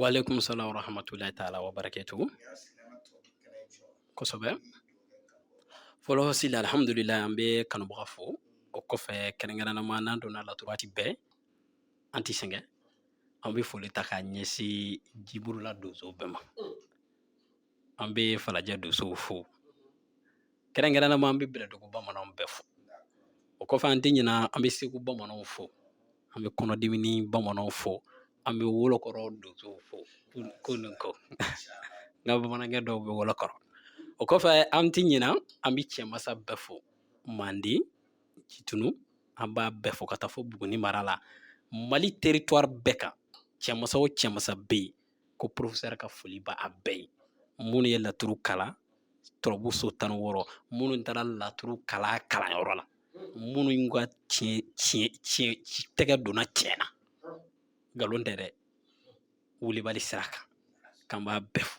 Waaleykum salaam wa rahmatulahi taala wa barakatu kosɛbɛ fɔlɔ sila alihamudulila an bɛ kanubaga fo o kɔfɛ kɛrɛnkɛrɛnnama n'an donna laturu waati bɛɛ an ti sɛgɛn an bɛ foli ta k'a ɲɛsin jiburula donso bɛɛ ma an bɛ falajɛ donsow fo kɛrɛnkɛrɛnnama an bɛ bɛlɛdugu bamananw bɛɛ fo o kɔfɛ an tɛ ɲina an bɛ segu bamananw fo an bɛ kɔnɔdimini bamananw fo an bɛ wolokɔrɔ donsow fo ko nin ko n ka bamanankɛ dɔ bɛ wolokɔrɔ o kɔfɛ an tɛ ɲina an bɛ cɛmasa bɛɛ fo manden jitumu an b'a bɛɛ fo ka taa fo buguni mara la mali teritwari bɛɛ kan cɛmasa o cɛmasa bɛ yen ko porofesɛri ka foli b'a bɛɛ ye minnu ye laturu kalan turabu so tan ni wɔɔrɔ minnu taara laturu kala kalanyɔrɔ la minnu ka tiɲɛ tiɲɛ tiɲɛ tɛgɛ donna tiɲɛ na nkalon tɛ dɛ wulibali sira kan k'an b'a bɛɛ fo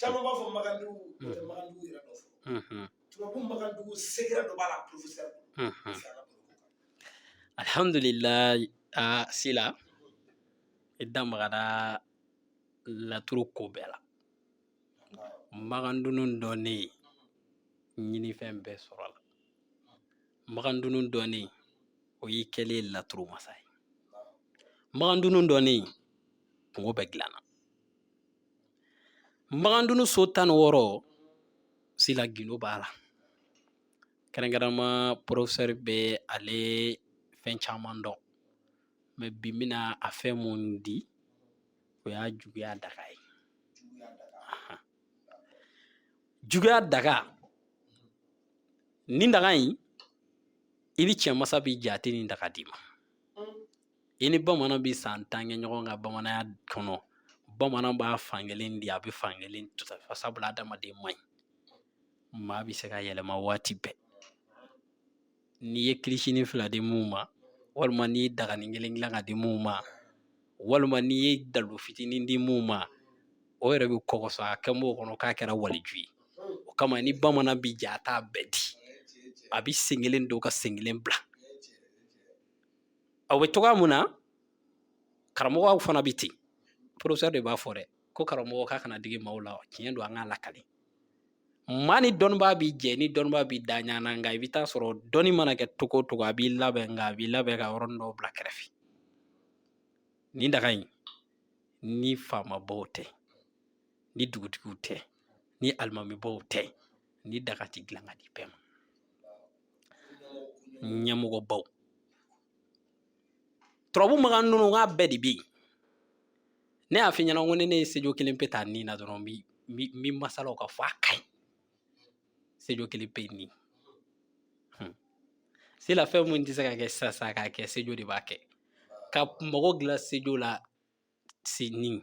caman b'a fɔ magandugu o tɛ magandugu yɛrɛ dɔ fɔ turabu magandugu sekere dɔ b'a la professeur alhamdulilayi a sila i da magara laturu ko bɛɛ la magandunu dɔnnen ɲinifɛn bɛɛ sɔrɔla magandunu dɔnnen o y'i kɛlen laturu masa ye magandunu dɔnnen kunko bɛɛ dilanna Magandun so tan ni wɔɔrɔ sila gundo b'a la kɛrɛnkɛrɛnma porofesɛri bɛ ale fɛn caman dɔn mɛ bi bɛna a fɛn min di o y'a juguya daga ye juguya daga nin daga in i ni cɛmasa bɛ jɛ a tɛ nin daga d'i ma i ni bamanan bɛ san tan kɛ ɲɔgɔn kan bamananya kɔnɔ bamanan b'a fankelen di a bɛ fankelen tufa sabula adamaden man ɲi maa bɛ se ka yɛlɛma waati bɛɛ n'i ye kilisinin fila di min ma walima n'i ye dagani kelen dilan ka di min ma walima n'i ye dalu fitinin di min ma o yɛrɛ bɛ kɔkɔsɔ a kɛ mɔgɔ kɔnɔ k'a kɛra waliju ye o kama ni bamanan bɛ jɛ a t'a bɛɛ di a bɛ sen kelen don ka sen kelen bila aw bɛ cogoya mun na karamɔgɔw fana bɛ ten porofesɛri de b'a fɔ dɛ ko karamɔgɔ k'a kana digi maaw la tiɲɛ don an k'a lakali maa ni dɔnnibaa bɛ jɛ ni dɔnnibaa b'i da ɲana nka i bɛ taa sɔrɔ dɔnni mana kɛ cogo o cogo a b'i labɛn nka a b'i labɛn ka yɔrɔnin dɔw bila kɛrɛfɛ nin daga in ni faamabaw tɛ ni dugutigiw tɛ ni alimamibaw tɛ nin daga tɛ dilan ka di bɛɛ ma ɲɛmɔgɔbaw turabu makan ninnu k'a bɛɛ de bɛ yen ne y'a f'i ɲɛna ko ni ne ye sejo kelen pe ta nin na dɔrɔn n bɛ masalaw ka fɔ a ka ɲi sejo kelen pe nin hmm. sila fɛn mun tɛ se ka kɛ sisan sisan k'a kɛ sejo de b'a kɛ ka mago dilan sejo la si nin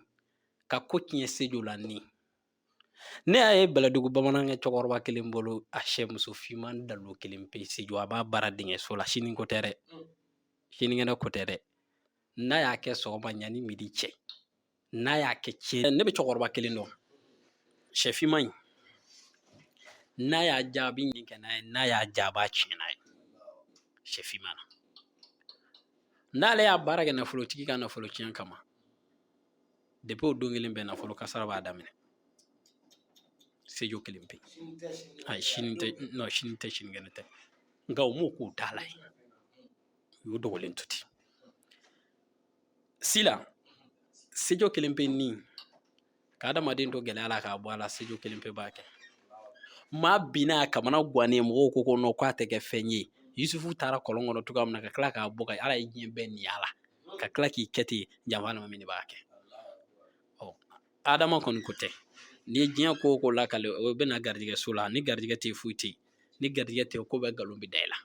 ka ko tiɲɛ sejo la nin ne y'a ye bɛlɛdugu bamanankɛ cɛkɔrɔba kelen bolo a sɛ muso finman dalo kelen pe sejo a b'a baara dingɛ so la sini ko tɛ dɛ sinikɛnɛ ko tɛ dɛ n'a y'a kɛ sɔgɔma ɲani midi cɛ n'a y'a kɛ tiɲɛ ne bɛ cɛkɔrɔba kelen dɔn sɛ finman in n'a y'a ja a bɛ ɲin kɛ n'a ye n'a y'a ja a b'a tiɲɛ n'a ye sɛ finman na n'ale y'a baara kɛ nafolotigi ka nafolo tiɲɛ kama depi o don kelen bɛɛ nafolo kasara b'a daminɛ sejo kelen pe ayi sini tɛ nɔ sini tɛ sinikɛnɛ tɛ nka u m'o k'u da la ye u y'o dogolen to ten sila sejo kelen pe nin ka adamaden to gɛlɛya la k'a bɔ a la sejo kelen pe b'a kɛ maa binna a kamana gannen mɔgɔw ko ko nɔ k'a tɛ kɛ fɛn ye yusufu taara kɔlɔn kɔnɔ cogoya min na ka tila k'a bɔ ka ala ye diɲɛ bɛɛ nin y'a la ka tila k'i kɛ ten janfa alimami de b'a kɛ ɔ adama kɔni ko tɛ ni diɲɛ ko o ko lakali o bɛ na garijɛgɛ so la ni garijɛgɛ tɛ foyi tɛ yen ni garijɛgɛ tɛ ko bɛɛ nkalon bɛ da i la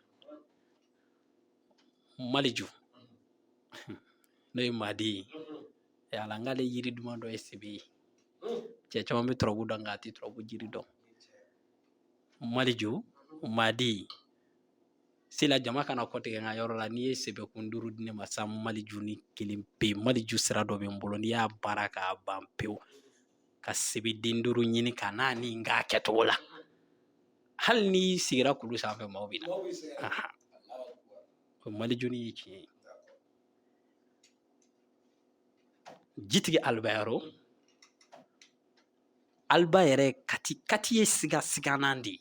maliju n'o ye madi ye ɛ ala n k'ale yiri duman dɔ ye sebe ye cɛ caman bɛ turabu dɔn nka a tɛ turabu jiri dɔn maliju madi sila jama kana kɔtigɛ n ka yɔrɔ la n'i ye sebekun duuru di ne ma sa maliju nin kelen pe maliju sira dɔ bɛ n bolo n'i y'a baara k'a ban pewu ka sebeden duuru ɲini ka n'a ni n k'a kɛcogo la hali n'i sigira kulu sanfɛ maaw bɛ na o maliju nin ye tiɲɛ ye jitigi alibayaro alba yɛrɛ kati ye siga siganan de ye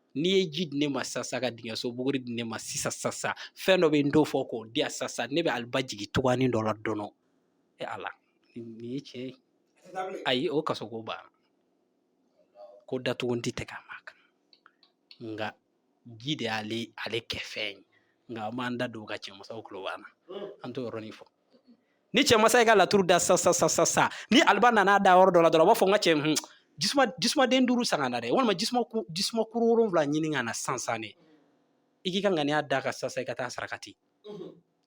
n'i ye ji di ne ma sasa ka dingɛso buguri di ne ma sisan sasa fɛn dɔ bɛ n t'o fɔ k'o di yan sasa ne bɛ aliba jigin cogoyanin dɔ la dɔnɔ e ala nin ye tiɲɛ ye ayi o kaso ko banna ko datugu n ti tɛgɛ a ma kan nka ji de y'ale kɛ fɛn ye nka an b'an da don ka cɛmasaw tulo b'an na an t'o yɔrɔnin fɔ ni cɛmasa ye ka laturu da sasa sasa ni aliba nana da yɔrɔ dɔ la dɔrɔn a b'a fɔ n ka cɛ hun jisuma jisumaden duuru san ka na dɛ walima jisuma ku jisuma kuru wolonwula ɲini ka na sansan de i k'i ka ŋaniya d'a kan sasa i ka taa sarakati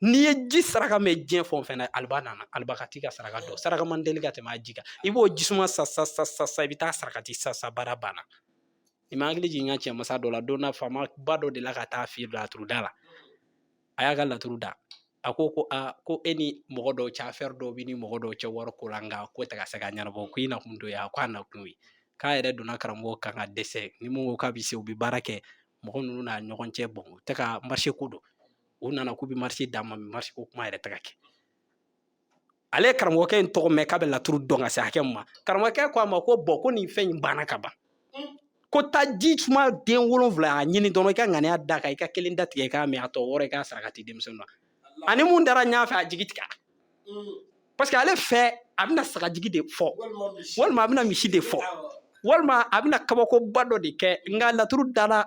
n'i ye ji saraka mɛn diɲɛ fɛn o fɛn na aliba nana aliba ka t'i ka saraka dɔn saraka man teli ka tɛmɛ a ji kan i b'o jisuma san sasa sasa i bɛ taa sarakati sa sa baara banna i ma hakili jigin n ka cɛmasa dɔ la don na faamaba dɔ de la ka taa fiyɛ laturu da la a y'a ka laturu da a ko ko a ko e ni mɔgɔ dɔw cɛ affaire dɔ b'i ni mɔgɔ dɔw cɛ wari ko la nka ko tɛ ka se ka ɲɛnabɔ ko i nakun t'o ye a ko a nakun ye k'a yɛrɛ donna karamɔgɔ kan ka dɛsɛ ni mun ko k'a bɛ se u bɛ baara kɛ mɔgɔ ninnu n'a ɲɔgɔn cɛ bon u tɛ ka marché ko don u nana k'u bɛ marché d'a ma marché ko kuma yɛrɛ tɛ ka kɛ ale ye karamɔgɔkɛ in tɔgɔ mɛn k'a bɛ laturu dɔn ka se hakɛ min ma karamɔgɔkɛ ko a ma ko bon ko nin fɛn in banna ka ban ko taa jisumaden wolonwula a ɲini dɔrɔn i ka ŋaniya d'a kan i ka kelen da tigɛ i k'a min a tɔ wɔɔrɔ i k'a sarakati denmisɛnnin na a ni min taara ɲɔgɔn fɛ a jigi tigɛ parce que ale fɛ a bɛna sagajigi de fɔ walima a bɛna misi de fɔ walima a bɛna kabakoba dɔ de kɛ nka laturudala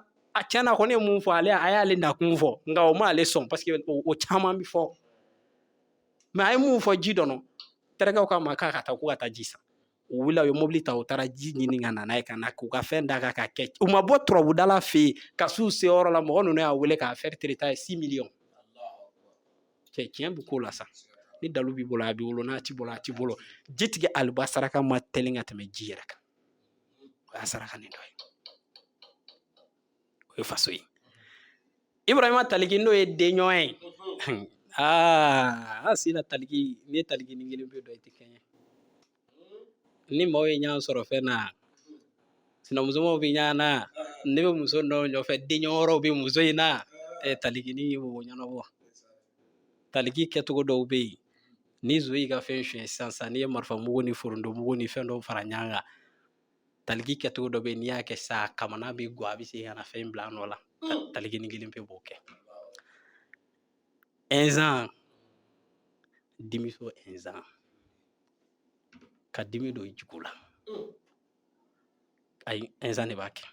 tiɲɛ na kɔni ye min fɔ ale a y'ale nakun fɔ nka o ma ale sɔn parce que o caman bɛ fɔ mais a ye mun fɔ ji dɔnɔ terikɛ k'a ma k'a ka taa ko ka taa ji san u wulila u ye mobili ta u taara ji ɲini ka na n'a ye ka na k'u ka fɛn d'a kan ka kɛ u ma bɔ turabudala fɛ yen ka s'u seyɔrɔ la mɔgɔ ninnu y'a wele k'affaire traité a ye six millions cɛ tiɲɛ bɛ ko la sa ni dalu b'i bolo a b'i bolo n'a t'i bolo a t'i bolo jitigi aliba saraka man teli ka tɛmɛ ji yɛrɛ kan o y'a sarakanin dɔ ye o ye faso ye ibrahima taliki n'o ye denɲɔgɔn ye aa sina taliki n'i ye talikinin kelen pe dɔn i tɛ kɛɲɛ ni maaw ye ɲɔgɔn sɔrɔ fɛn na sinamusomaw bɛ ɲɔgɔn na ne bɛ muso dɔ nɔfɛ denɲɔgɔn wɛrɛw bɛ muso in na ɛ taliki ni ye mɔgɔ ɲɛnabɔ taliki kɛcogo dɔw bɛ yen ni zo y'i ka fɛn suɲɛ sisan sisan n'i ye marifamugu ni forontomugu ni fɛn dɔw fara ɲɔgɔn kan taliki kɛcogo dɔ bɛ yen n'i y'a kɛ sa kamana bɛ gwan a bɛ se ka na fɛn bila a nɔ la talikinin kelen pe b'o kɛ ɛnzan dimiso ɛnzan ka dimi don i jugu la ayi ɛnzan de b'a kɛ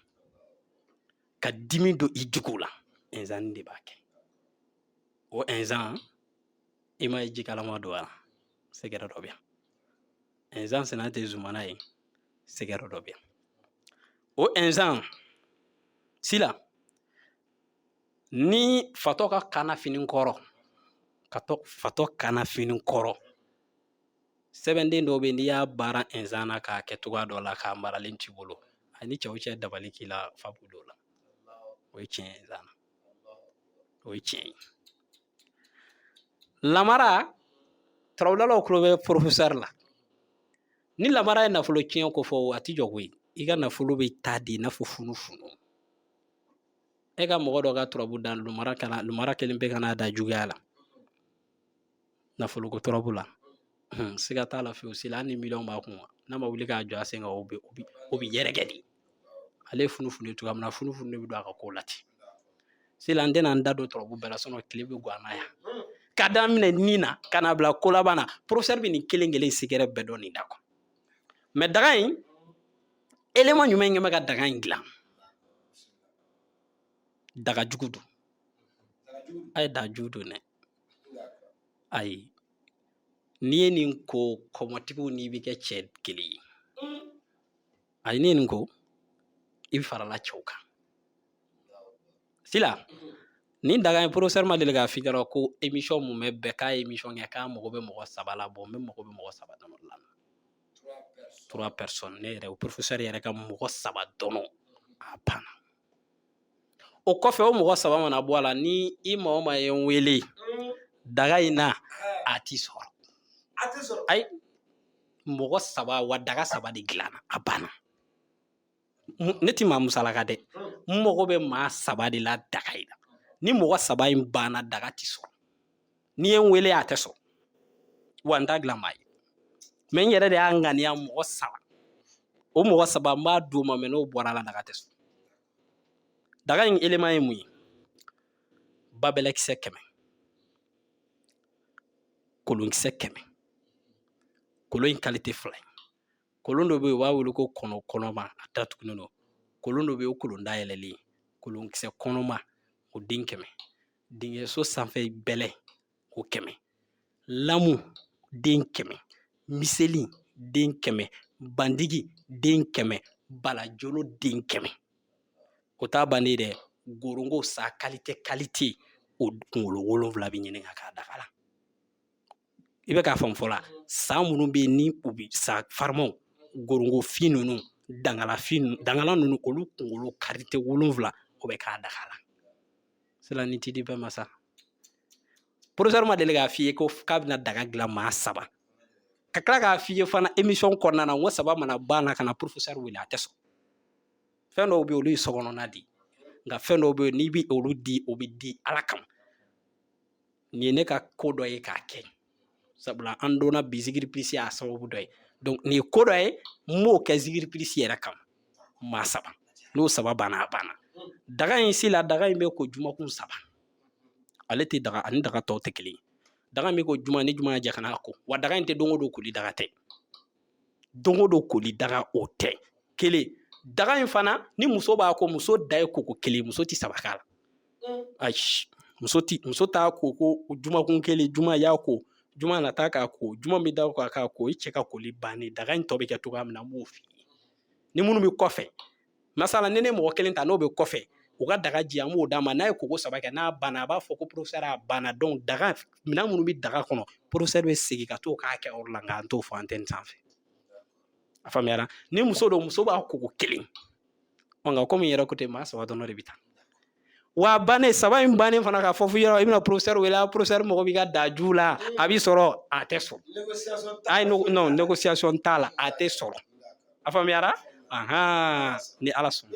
ka dimi don i jugu la ɛnzan de b'a kɛ o ɛnzan i m'a ye jikalama don wa secret dɔ bɛ yan ɛnsan sɛnɛ tɛ zumana ye sɛgɛrɛ dɔ bɛ yan o ɛnsan sila ni fatɔ ka kanna fini kɔrɔ fatɔ kanna fini kɔrɔ sɛbɛnden dɔw bɛ n'i y'a baara ɛnsan na k'a kɛ cogoya dɔ la k'a maralen t'i bolo ani cɛ o cɛ dabali k'i la fa b'o la o ye tiɲɛ ye ɛnsan na O ye tiɲɛ ye lamara turabudalaw tulo bɛ porofesɛri la ni lamara ye nafolo tiɲɛ ko fɔ a tɛ jɔ koyi i ka nafolo bɛ taa di i n'a fɔ funufunu e ka mɔgɔ dɔ ka turabu da lumara kelen bɛ ka n'a da juguya la nafoloko turabu la hun, siga t'a la fiyewu sila hali ni miliyɔn b'a kun n'a ma wuli k'a jɔ a sen kan o bɛ yɛrɛkɛ de ale ye funufunu ye cogoya min na funufunu de bɛ don a ka kow la ten sila n tɛna n da don turabu bɛɛ la sinɔn tile bɛ gan na yan ka daminɛ nin na ka na bila ko laban na porofɛsɛri bɛ nin kelen kelen sigɛrɛ bɛɛ dɔn nin da kɔnɔ mɛ daga in eleman jumɛn kɛ bɛ ka daga in dilan daga jugu don a ye daga jugu don dɛ ayi n'i ye nin ko kɔmɔtigiw n'i bɛ kɛ cɛ kelen ye ayi n'i ye nin ko i bɛ farala cɛw kan sila nin daga in porofesɛri ma deli k'a f'i ɲɛna ko emisɔn mun bɛ bɛɛ k'a ye emisɔn kɛ k'a mago bɛ mɔgɔ saba la bɔn n bɛ mago bɛ mɔgɔ saba dama la trois personnes ne yɛrɛ o porofesɛri yɛrɛ ka mɔgɔ saba dɔrɔn a banna o kɔfɛ o mɔgɔ saba mana bɔ a la ni i maa o maa ye n wele daga in na a ti sɔrɔ ayi mɔgɔ saba wa daga saba de dilanna a banna ne ti maa musalaka dɛ n mago bɛ maa saba de la daga in na ni mɔgɔ saba in banna daga ti sɔrɔ n'i ye n wele a tɛ sɔrɔ wa n t'a dilan maa ye mɛ n yɛrɛ de y'a ŋaniya mɔgɔ saba o mɔgɔ saba n b'a d'o ma mɛ n'o bɔra a la daga tɛ sɔrɔ daga in eleman ye mun ye babɛlɛkisɛ kɛmɛ kolonkisɛ kɛmɛ kolon in kalite fila ye kolon dɔ bɛ yen u b'a wele ko kɔnɔ kɔnɔma a datugulen don kolon dɔ bɛ yen o kolon dayɛlɛlen kolonkisɛ kɔnɔma o den kɛmɛ dingɛso sanfɛ bɛlɛ o kɛmɛ lamu den kɛmɛ miseli den kɛmɛ bandigi den kɛmɛ balajolo den kɛmɛ o t'a bannen dɛ gorongo sa kalite kalite o kunkolo wolonwula bɛ ɲini ka k'a daga la i bɛ k'a faamu fɔlɔ sa minnu bɛ yen ni u bɛ sa farimaw gorongofin ninnu dangala ninnu olu kunkolo kalite wolonwula o bɛ k'a daga la sila ni t'i di bɛɛ ma sa professeur ma deli k'a f'i ye ko k'a bɛna daga dilan maa saba ka tila k'a f'i ye fana émission kɔnɔna na n ko saba mana ban na kana professeur wele a tɛ sɔn fɛn dɔw bɛ yen olu ye sokɔnɔna de ye nka fɛn dɔw bɛ yen n'i bɛ olu di o bɛ di ala kama nin ye ne ka ko dɔ ye k'a kɛ sabula an dɔnna bi zikiri plus y'a sababu dɔ ye donc nin ye ko dɔ ye n b'o kɛ zikiri plus yɛrɛ kama maa saba n'o saba banna a banna daga in sila daga in bɛ ko jumakun saba ale tɛ daga ani daga tɔw tɛ kelen ye daga in bɛ ko juma ni juma cɛ kan'a ko wa daga in tɛ don o don koli daga tɛ don o don koli daga o tɛ kelen daga in fana ni muso b'a ko muso da ye koko kelen muso tɛ saba k'a la mm. ayi muso tɛ muso t'a ko ko jumakun kelen juma y'a ko juma nata k'a ko juma bɛ da o kan k'a ko i cɛ ka koli bannen daga in tɔ bɛ kɛ cogoya min na n b'o f'i ye ni minnu bɛ kɔfɛ masala ni ne mɔgɔ kelen ta n'o bɛ kɔfɛ u ka daga ji an b'o d'a ma n'a ye koko saba kɛ n'a banna a b'a fɔ ko professeur a banna donc daga minɛn minnu bɛ daga kɔnɔ professeur bɛ segin ka t'o k'a kɛyɔrɔ la nka an t'o fɔ antɛni sanfɛ a faamuyara ni muso don muso b'a koko kelen ɔ nka komi n yɛrɛ ko ten maa saba dɔrɔn de bɛ taa wa bannen saba in bannen fana ka fɔ f'i yɔrɔ i bɛna professeur wele a professeur mago b'i ka daga ji la a bɛ sɔrɔ a tɛ sɔrɔ ayi non négociation t'a la a tɛ sɔrɔ a faamuyara ahan ni ala sɔnna